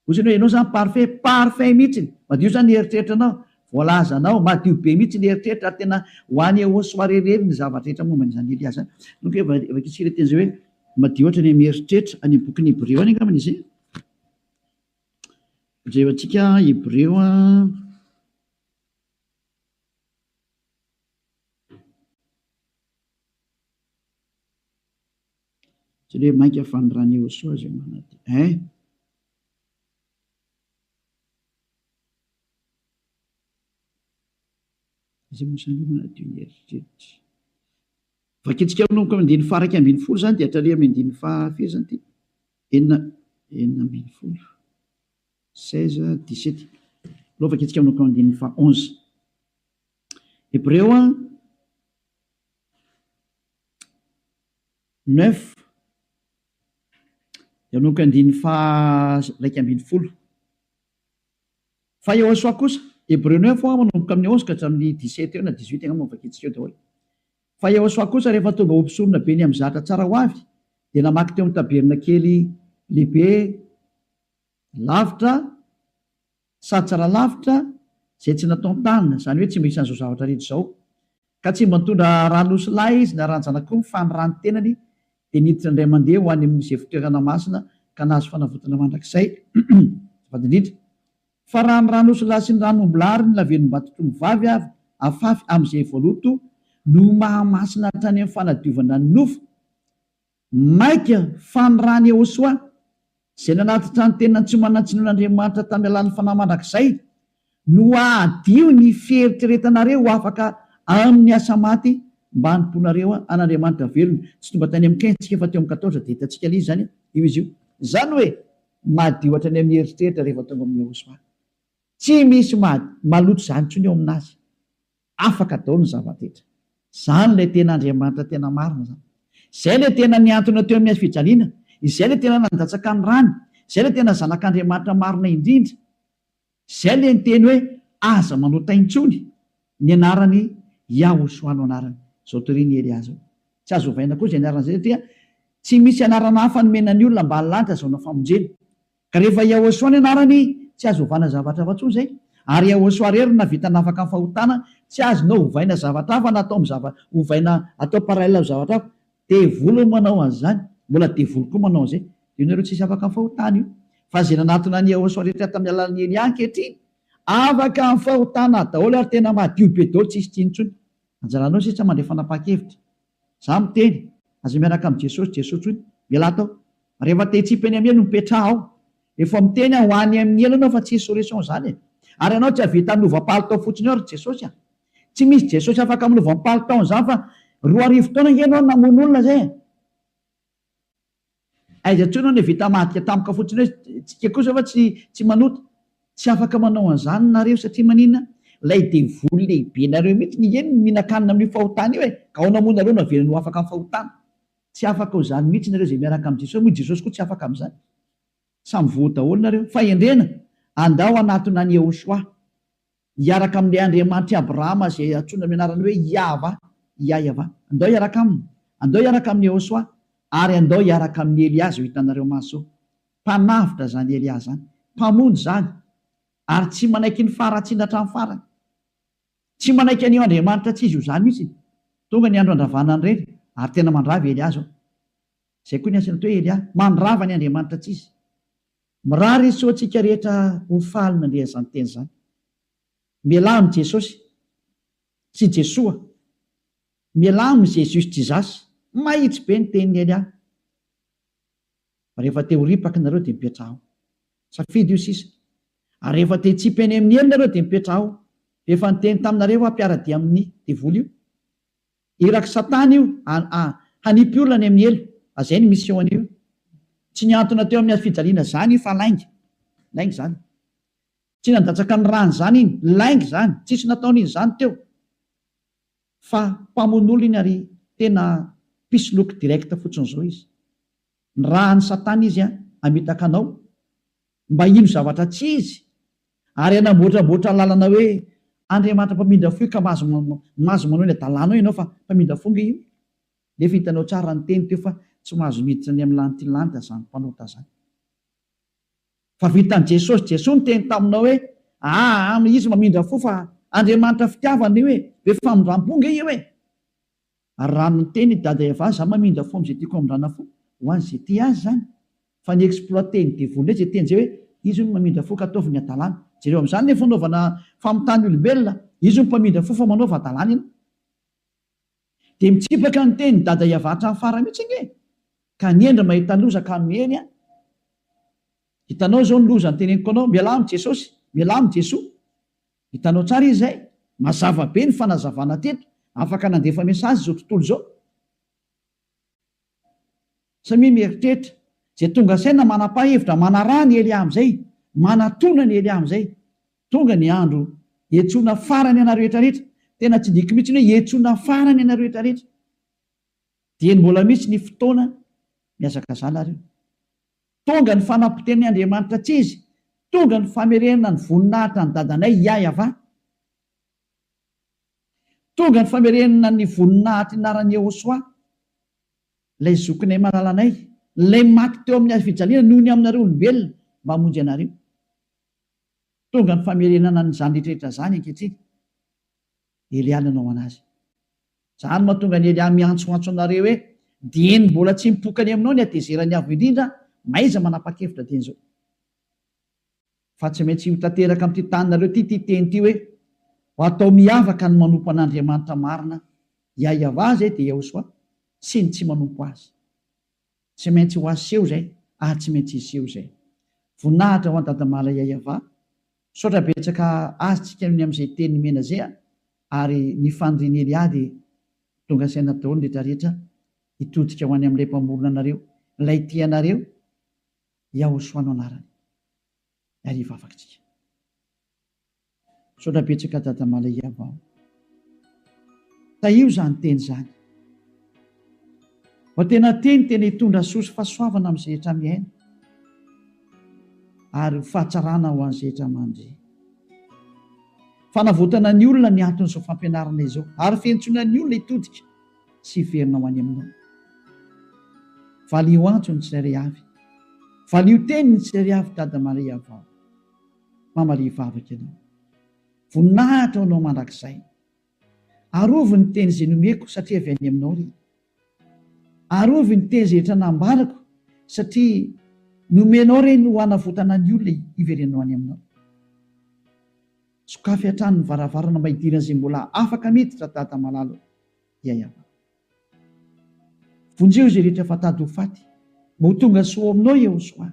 Ohatrany hoe ianao zany parfait, parfait mihitsy, madio zany ny eritreritranao, voalazanao, madio be mihitsy ny eritreritra ary tena ho any eoa soa rerireriny ny zavatra rehetra momba an'izany Elia zany. Inoako hoe efa vakintsika ilay teny izay hoe madio hatrany amin'ny eritreritra, any amin'ny bokin'ny Hebreo any angambany izay. Jerevantsika Hebreo Tsy le mainka fanirany Iehosoa izay manadio eh! Izay mosaliana manadio ny eritreritra. Vakintsika manomboka amin'ny andininy faha iraika ambin'ny folo izany dia hatraria amin'ny andininy faha firy izany ity? Enina enina ambin'ny folo. 16, 17. Alao vakintsika manomboka amin'ny andininy faha onze. Hebreo a. neuf Hianoko andininy faha iraika ambin'ny folo Fa Yehosua kosa, Hebreo neuf ho'a manomboka amin'ny onze ka hatramin'ny dix sept eo na dix huit angamba no vakintsika eo daholo Fa Yehosua kosa rehefa tonga ho mpisorona be ny amin'ny zatra tsara ho avy dia namaky teo amin'ny tabernakely lehibe lavitra Sady tsara lavitra izay tsy natao ny tany, izany hoe tsy mba isan'izao zavatra rehetra izao. Ka tsy mba nitondra rà nosy lahy izy na ràn-janak'omby fa ny ràn'ny tenany dia niditra indray mandeha ho any amin'ny Isefotoerana Masina ka nahazo fanavotana mandrakizay. Azafady indrindra fa raha ny rà nosy lahy sy ny ràn'omby lahy ary ny lavenom-batotr'omby vavy avy afafy amin'izay voaloto no mahamasina hatrany amin'ny fanadiovana ny nofo, Maika fa ny rany Yehosoa, izay nanatitra ny tenany tsy manan-tsiny ho an'Andriamanitra tamin'ny alalan'ny fanahy mandrakizay, no hahadio ny fieritreretanareo ho afaka amin'ny asa maty mba hanompoanareo an'Andriamanitra velona. Tsy tonga tany amin'ny quinze tsika fa teo amin'ny quatorze dia hitantsika lzy izany io izy io. Izany hoe madio hatrany amin'ny eritreritra rehefa tonga amin'i Yehosoa. Tsy misy maloto izany intsony eo amin'azy. Afaka daholo ny zava-drehetra. Izany ilay tena Andriamanitra tena marina izany. Izay ilay tena nihantona teo amin'ny hazofijaliana, izay ilay tena nandatsaka ny rany, izay ilay tena Zanak'Andriamanitra marina indrindra. Izay ilay niteny hoe, Aza manota intsony ny anarany Yahushua no anarany. Izao torian'i Elia izao. Tsy azo ovaina koa izay anarana izay satria tsy misy anarana hafa nomena ny olona mba hahalany ka azahoana famonjena. Ka rehefa Yahosua ny anarany tsy azo ovana zavatra hafa tsony zay, ary Yahosua rery no navita nafaka ny fahotana, tsy azonao ovaina zavatra hafa na atao am zava ovaina atao parallel am zavatra hafa, devoly no manao anzany, mbola devoly koa manao anzay, de io nareo tsisy afaka am fahotana io, fa ze nanatona an Yahosua rehetra tam alalan i Elia ankehitriny afaka am fahotana daolo ary tena madio be daolo tsisy tsiny tsony, anjaranao sisa mandray fanapahan kevitra. Za miteny, aza miaraka am Jesosy Jesosy hoy ialahy atao rehefa te hitsipy any am helo mipetraha ao efa miteny a ho any am ny helo anao fa tsy hisy solution zany e ary anao tsy havita milova palitao fotsiny ao ry Jesosy a tsy misy Jesosy afaka milova am palitaony zany fa roa arivo taona nge enao namono olona zay e. Aiza intsony hono vita madika tampoka fotsiny hoe tsika kosa va tsy tsy manota? Tsy afaka manao an'izany nareo satria maninona? Ilay devoly lehibenareo mihitsy ny eny no mihinan-kanina amin'io fahotana io e! Ka ahoana moa nareo no havelany ho afaka amin'ny fahotana? Tsy afaka ho izany mihitsy nareo izay miaraka amin'i Jesosy moa i Jesosy koa tsy afaka amin'izany. Samy voa daholo nareo. Fahendrena! Andao hanatona an'i Yehoshuah. hiaraka amin'ilay Andriamanitr'i Abrahama izay antsoina amin'ny anarany hoe Iahvah, Iahyavah. Andao hiaraka aminy. Andao hiaraka amin'i Yehoswah. Ary andao hiaraka amin'i Elia izao hitanareo maso. Mpanavotra izany Elia izany. Mpamonjy izany. Ary tsy manaiky ny faharatsiana hatramin'ny farany. Tsy manaiky an'io Andriamanitra tsy izy io izany mihitsy. Tonga ny andro handravana an'ireny, ary tena mandrava i Elia izao. Izay koa ny antsoina hoe Elia, mandrava ny Andriamanitra tsy izy. Mirary izy tsy ho antsika rehetra ho faly nandre izany teny izany. Mialà amin'i Jesosy. Tsy Jesoa. Mialà amin'i Jesus Jesus. Mahitsy be ny tenin'i Elia. Rehefa te ho ripaka nareo dia mipetraha ao. Safidy io sisa. Ary rehefa te hitsipy any amin'ny helo nareo dia mipetraha ao. Rehefa niteny taminareo aho mpiara-dia amin'ny devoly io. Irak'i Satana io a hanipy olona any amin'ny helo a zay ny mission-ny io. Tsy niantona teo amin'ny hafijaliana zany i fa lainga. Lainga zany. Tsy nandatsaka ny rany zany iny. Lainga zany. Tsisy nataony izany teo. Fa mpamono olona iny ary tena mpisoloky direct fotsiny zao izy. Ny raha an'i Satana izy a hamitaka anao. Mba hino zavatra tsy izy, ary hanamboatramboatra lalana hoe Andriamanitra mpamindra fo io ka mahazo mahazo manao ny hadalana ao ianao fa mpamindra fo nge io nefa hitanao tsara ny teny teo fa tsy mahazo miditra ny amin'ny lanitry ny lanitra zany mpanota zany fa vitan'i Jesosy Jesoa niteny taminao hoe aa izy mamindra fo fa Andriamanitra fitiavana io e be famindrampo nge io e Ary raha miteny i Dada Eva za mamindra fo amzay tiako hamindrana fo ho an ze tia azy zany fa ny exploiter ny devoly ndray ze teny zay hoe izy hono mamindra fo ka ataovy ny adalany jereo amzany le fanaovana famitany olombelona izy hono mpamindra fo fa manaova adalany ianao de mitsipaka ny teny Dada Eva hatram fara mitsy ange ka ny hendry mahita loza ka miely an hitanao zao ny loza ny teneniko anao mialà am jesosy mialà am jesoa Hitanao tsara izy izay? Mazava be ny fanazavana teto. Afaka nandefa message izao tontolo izao. Samia mieritreritra. Izay tonga saina manapa hevitra manaraha an'i Elia amin'izay. Manatona an'i Elia amin'izay. Tonga ny andro hiantsoana farany anareo rehetra rehetra. Tena tsy diko mihitsy ny hoe hiantsoana farany anareo rehetra rehetra. Dieny mbola misy ny fotoana mihazakazana ary io. Tonga ny fanampoten'i Andriamanitra tsy izy, tonga ny famerenana ny voninahitra an'i Dadanay Iahyavà. Tonga ny famerenana ny voninahitr'i Naran' Iehôsoà, ilay zokinay malalanay, ilay maty teo amin'ny hazofijaliana noho ny aminareo olombelona mba hamonjy anareo. Tonga ny famerenana an'izany rehetra rehetra izany ankehitriny. Elia nanao an'azy. Izany mahatonga an'i Elia miantsoantso anareo hoe, Dieny mbola tsy mipoka any aminao ny hatezeran'ny Avo Indrindra, mahaiza manapa-kevitra dieny izao. Fa tsy maintsy ho tanteraka amin'ity taninareo ity ity teny ity hoe, Ho atao miavaka ny manompo an'Andriamanitra marina, Iahiavà izay dia Iehosoa, sy ny tsy manompo azy. Tsy maintsy ho aseho izay ary tsy maintsy hiseho izay. Voninahitra ho an Dadamala Yayava. Misaotra betsaka azy tsika ny amin'izay teny nomena izay a! ary ny fanirian'i Elia dia tonga saina daholo ny rehetra rehetra hitodika ho any amin'ilay mpamorona anareo, ilay tia anareo, Yahoshua no anarany. Ary hivavaka tsika. Misaotra betsaka Dada Malaiava o. Tahio izany teny izany. Fa tena teny tena hitondra soa sy fahasoavana amin'ny zehetra mihaino ary ho fahatsarana ho an'ny zehetra mandre. Fanavotana ny olona ny anton'izao fampianarana izao ary fientsoana ny olona hitodika sy hiverina ho any aminao. Valio antso ny tsirairay avy. Valio teny ny tsirairay avy Dada Malaiava o. mamalia vavaka ianao. Voninahitra ho anao mandrakizay. Arovy ny teny izay nomeko satria avy any aminao ry. Arovy ny teny izay etra nambarako satria nomenao ireny ho hanavotana ny olona hiverenanao any aminao. Sokafy hatrany ny varavarana mba hidiran'izay mbola afaka miditra ry Dada malala o. Yayava. Vonjeo izay rehetra efa tady ho faty mba ho tonga soa ao aminao Yehosoa.